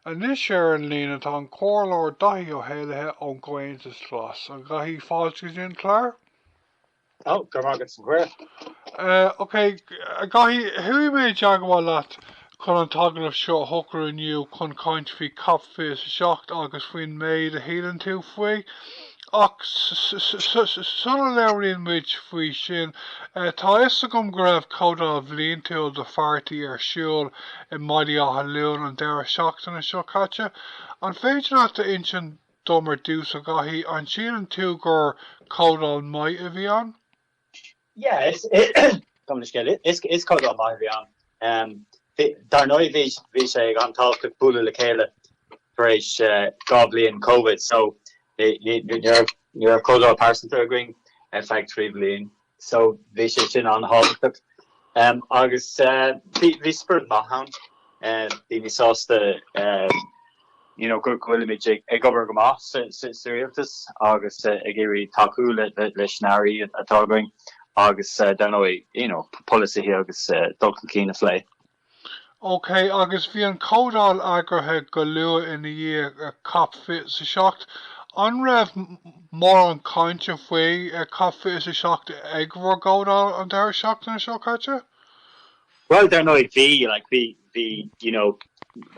Anois ar an líne tá an Comhairleoir Daithí Ó hÉallaithe ón gComhaontas Glas. A Dhaithí, fáilte go dtí an clár. Go raibh maith agat. OK, a Dhaithí, chuaigh mé i dteagmháil leat chun an t-agallamh seo a shocrú inniu chun caint faoi COP 27 agus faoin méid a shíleann tú faoi. Ach sula labhraíonn muid faoi sin, tá a fhios agam go raibh Comhdháil Bhliantúil do pháirtí ar siúl i mBaile Átha Luain an deireadh seachtaine seo caite. An féidir leat a insint dom ar dtús, a Dhaithí, an síleann tú gur comhdháil maith a bhí ann? Yeah is dócha measaim gur comhdháil maith a bhí ann. Um bhí dar ndóigh bhí bhí sé an-tábhachtach bualadh le chéile tar éis eh dhá bhliain Covid so ní ní ní raibh ní raibh comhdháil pearsanta againn ar feadh trí bhliain so bhí sé sin an-tábhachtach. Um agus eh bhí bhí spiorad maith ann eh bhí daoine sásta eh you know go bhfuilimid ag obair go maith sa rialtas agus ag iarraidh tacú leis na hairí atá againn agus dar ndóigh you know polasaithe agus dul chun cinn a phlé. OK, agus bhí an chomhdháil eagraithe go luath ina dhiaidh cop fiche 's a seacht. An raibh mórán cainte faoi cop fiche 's a seacht ag bhur gcomhdháil an deireadh seachtaine seo caite? Bhuel, dar ndóigh, bhí, like, bhí, bhí, you know,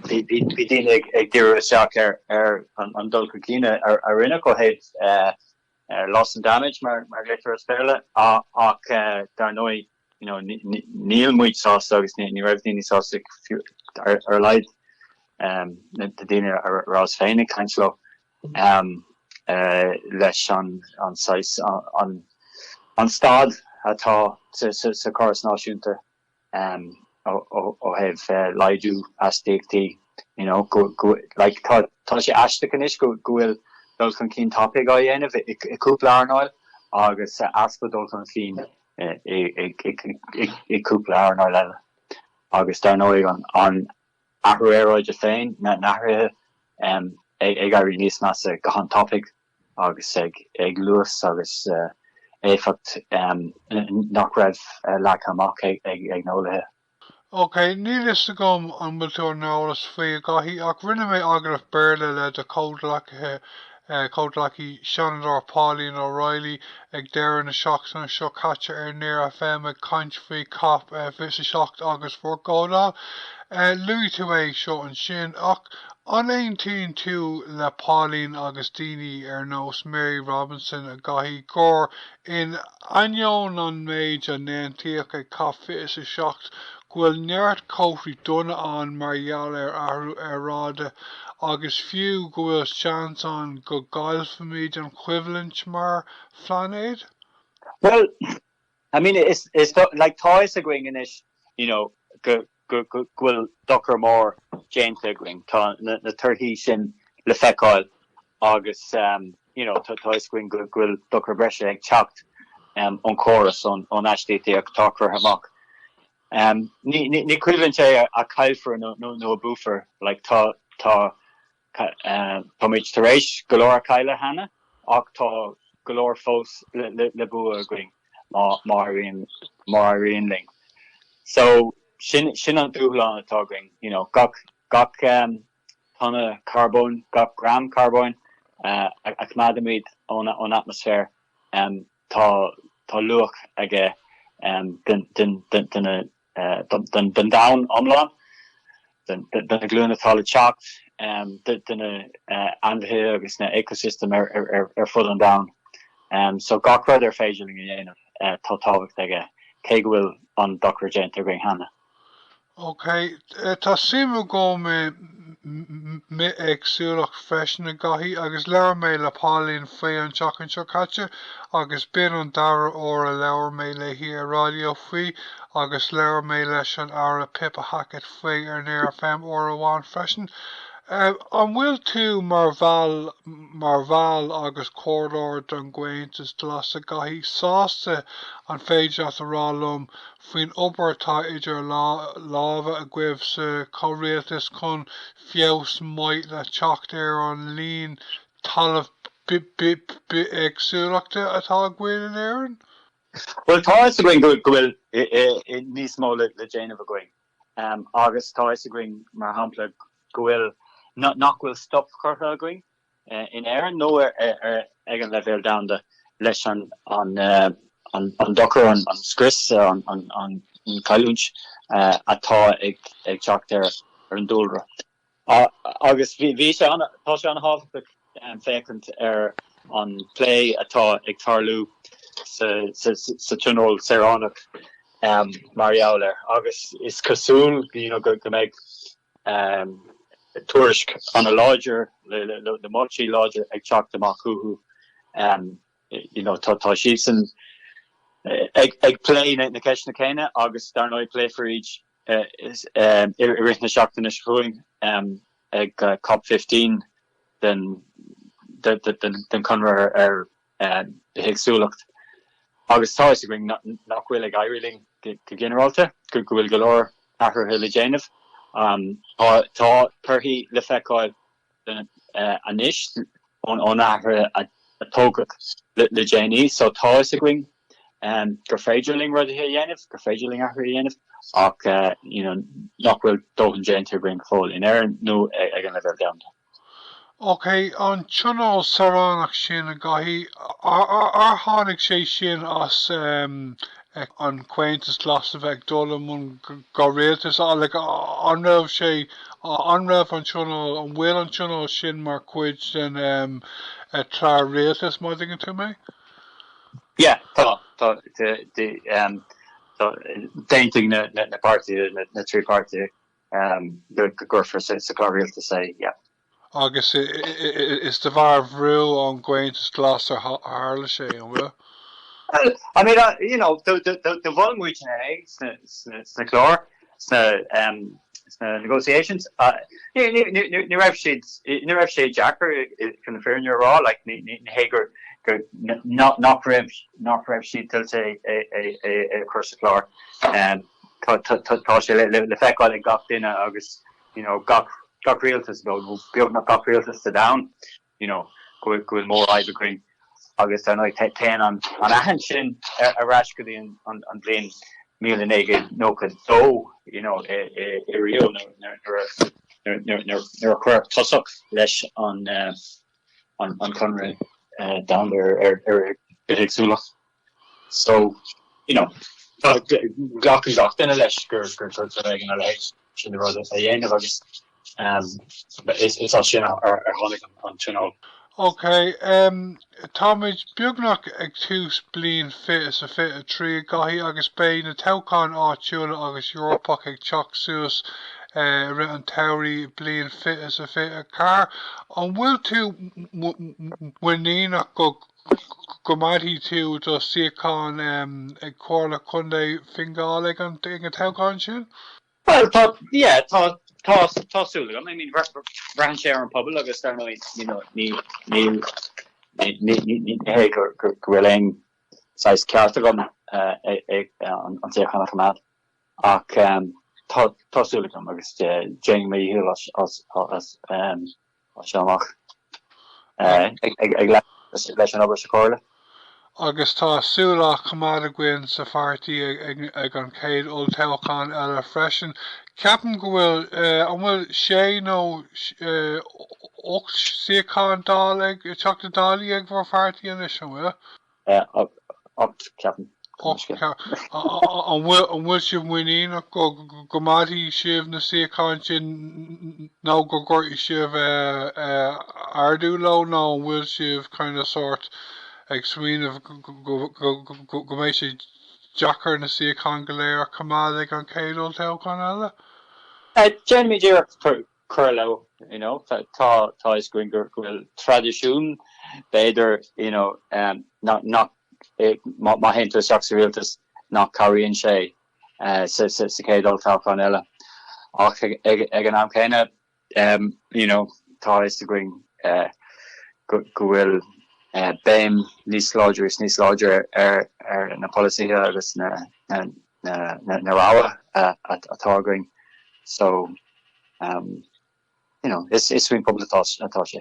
bhí, bhí, bhí daoine ag, ag díriú isteach ar, ar an, an dul chun cinn a, a rinneadh ó thaobh eh, eh, loss and damage mar, mar a ghlaoitear as Béarla, á- ach eh, dar ndóigh, you know, ní- ní- níl muid sásta agus ní, ní raibh daoine sásta fiú, ar, ar a laghad, em, na, na daoine a, a rabhas féin ag caint leo. am leis an saghas an staid atá sa chóras idirnáisiúnta ó thaobh laghdú astaíochtaí you know go like tá sé aisteach anois go bhfuil dul chun cinn tapaidh á dhéanamh i gcúpla earnáil agus easpa dul chun cinn i gcúpla earnáil eile agus dar ndóigh an athrú aeráide féin, na hathruithe ag éirí níos measa go han-tapaidh agus ag luas agus éifeacht nach raibh leagtha amach ag na heolaithe. OK, níl fhios agam an bhfuil tú ar an eolas faoi, a Dhaithí, ach rinne mé agallamh Béarla le do chomhghleacaithe chomhghleacaí Seanadóir Pauline O'Reilly ag deireadh na seachtaine seo caite ar Near FM ag caint faoi cop 27 agus d'fhógra. Luaigh tú é seo ansin, ach an aontaíonn tú le Pauline agus daoine ar nós Mary Robinson a Dhaithí, gur, in ainneoin an méid a aontaíodh ag cop 27, go bhfuil neart comharthaí dona ann mar gheall ar athrú aeráide agus fiú go bhfuil seans ann go gcaillfimid an choimhlint mar phlainéad? Bhuel, I mean, is, is, like, tá fhios againn anois, you know, go, go, go, go bhfuil dochar mór déanta againn, tá na, na torthaí sin le feiceáil Agus you know tá fhios againn go bhfuil dochar breise ag teacht ón córas, ón astaíocht atá curtha amach. Ní cinneadh é a chaillfear nó a buafar, like tá muid tar éis go leor a chailleadh cheana ach tá go leor fós le bua againn má éiríonn linn. So sin an dúshlán atá againn, you know gach tonna carbóin, gach gram carbóin a choimeádaimid ón atmaisféar, tá luach aige don domhan iomlán, do na glúine atá le teacht, do na hainmhithe agus na ecosystem ar fud an domhain. So gach rud ar féidir linn a dhéanamh, tá tábhacht aige, cé go bhfuil an dochar déanta againn cheana. OK, tá suim agam i mbithéagsúlacht freisin a Dháithí agus labhair mé le Pauline faoi an tseachtain seo caite agus b'in an dara uair a labhair mé léi ar raidió faoi agus labhair mé leis an Aire Pippa Hackett faoi ar Near FM uair amháin freisin. An bhfuil tú mar bhall mar bhall agus comhairleoir den gComhaontas Glas a Dháithí sásta an féidir leat a rá liom faoin obair atá idir lámha agaibh sa chomhrialtas chun feabhas maith le teacht ar an líon talamh bithéagsúlachta atá againn in Éirinn? Bhuel, tá fhios againn go bhfuil níos mó le déanamh againn agus tá fhios againn, mar shampla, go bhfuil, nach bhfuil stop curtha againn in Éirinn nó ag an leibhéal domhanda leis an dochar, an scrios, an cailliúint atá ag teacht ar an dúlra. Agus bhí sé, tá sé an-thábhachtach féachaint ar an bplé atá ag tarlú sa Tionól Saoránach mar gheall air agus is cosúil go mbeidh tuairisc ana láidir, le moltaí láidre ag teacht amach uathu. You know tá siadsan ag plé na ceisteanna céanna agus dar ndóigh pléifear iad i rith na seachtaine seo chugainn ag COP15 den Chonradh ar mbithéagsúlacht agus tá fhios againn nach bhfuil ag éirí linn go ginearálta, go bhfuil go leor athruithe le déanamh. Tá torthaí le feiceáil anois ón athruithe a tógadh le déanaí so tá fhios againn gur féidir linn rudaí a dhéanamh, gur féidir linn athruithe a dhéanamh ach you know nach bhfuil dóthain déanta againn go fóill in Éirinn nó ag an leibhéal domhanda. Ok, an tionól saoránach sin, a Dháithí, ar tháinig sé sin as an Comhaontas Glas a bheith ag dul i mbun rialtais? So, like, an raibh sé, an raibh an tionól, an bhfuil an tionól sin mar chuid den chlár rialtais, má dtuigeann tú mé? Yeah, tá, tá, tá, d'aontaigh na páirtithe, na trí pháirtithe, go gcuirfí sa Chlár Rialtais é. Agus is de bharr bhrú ón gComhaontas Glas a tharla sé, an bhfuil? I mean, you know, do mhol muid é sna cláir, sna negotiations. Ní raibh siad, ní raibh sé deacair chun na fírinne a rá, like, ní hé gur nach raibh, nach raibh siad toilteanach é a chur sa chlár. tá sé le feiceáil ag gach duine agus you know gach rialtas nó beagnach gach rialtas sa domhan you know go bhfuil mórfhadhb againn agus ar ndóigh téann an aithint sin ar ais go dtí an bhliain míle naoi gcéad nócha dó you know i Rio nuair a cuireadh tosach leis an eh, an Conradh eh, Domhanda ar bithéagsúlacht. So, you know, tá, glacann gach duine leis gur, gur, gur, gur éigin a leithéid sin de rud a dhéanamh agus, um, is, is as sin a, a, a tháinig an, an tionól. Ok, um, táimid beagnach ag tús bliain 2023, a Dháithí, agus beidh na toghcháin áitiúla agus Eorpacha ag teacht suas, eh, i rith an tsamhraidh bliain 2024. An bhfuil tú mu, mu, muiníneach go, go mbainfidh tú do suíochán ag Comhairle Contae Fhine Gall ag an toghchán sin? Bhuel, tá, yeah, tá, tá, tá súil agam. I mean, braitheann sé ar an bpobal agus dar ndóigh, you know, ní, níl, ní, ní, ní, ní, hé, go, go, go bhfuil aon saghas ceart agam ag, ag an, an suíochán a choimeád. Ach, um, tá, tá súil agam agus déanaim mo dhícheall as, as, as, um, as seo amach. Ag leanúint leis an obair sa Chomhairle. Agus tá súil á coimeád againn sa pháirtí ag an chéad olltoghchán eile freisin. Ceapaim go bhfuil, an bhfuil sé nó ocht suíochán Dála ag, Teachta Dálaí ag bhur pháirtí anois, an bhfuil? 8 ceapaim. An bhfuil sibh muiníneach go gcoimeádfaidh sibh na suíocháin sin nó go gcuirfidh sibh ardú leo nó an bhfuil sibh kind of, sórt ag smaoineamh go mbeidh sé deacair na suíocháin go léir a choimeád ag an chéad olltoghchán eile? Déanfaimid iarracht cur leo. You know, tá tá tá fhios againn go bhfuil traidisiún, b'fhéidir, you know, em, nach nach eh, má má théann tú isteach sa rialtas nach cabhraíonn sé eh, sa sa sa chéad olltoghchán eile. Ach ag, ag, ag an am céanna, em, you know, tá fhios againn eh, go, go bhfuil eh, béim níos láidre is níos láidre ar, ar na polasaithe agus na, na, na rogha atá againn so you know is is faoin pobal atá sé.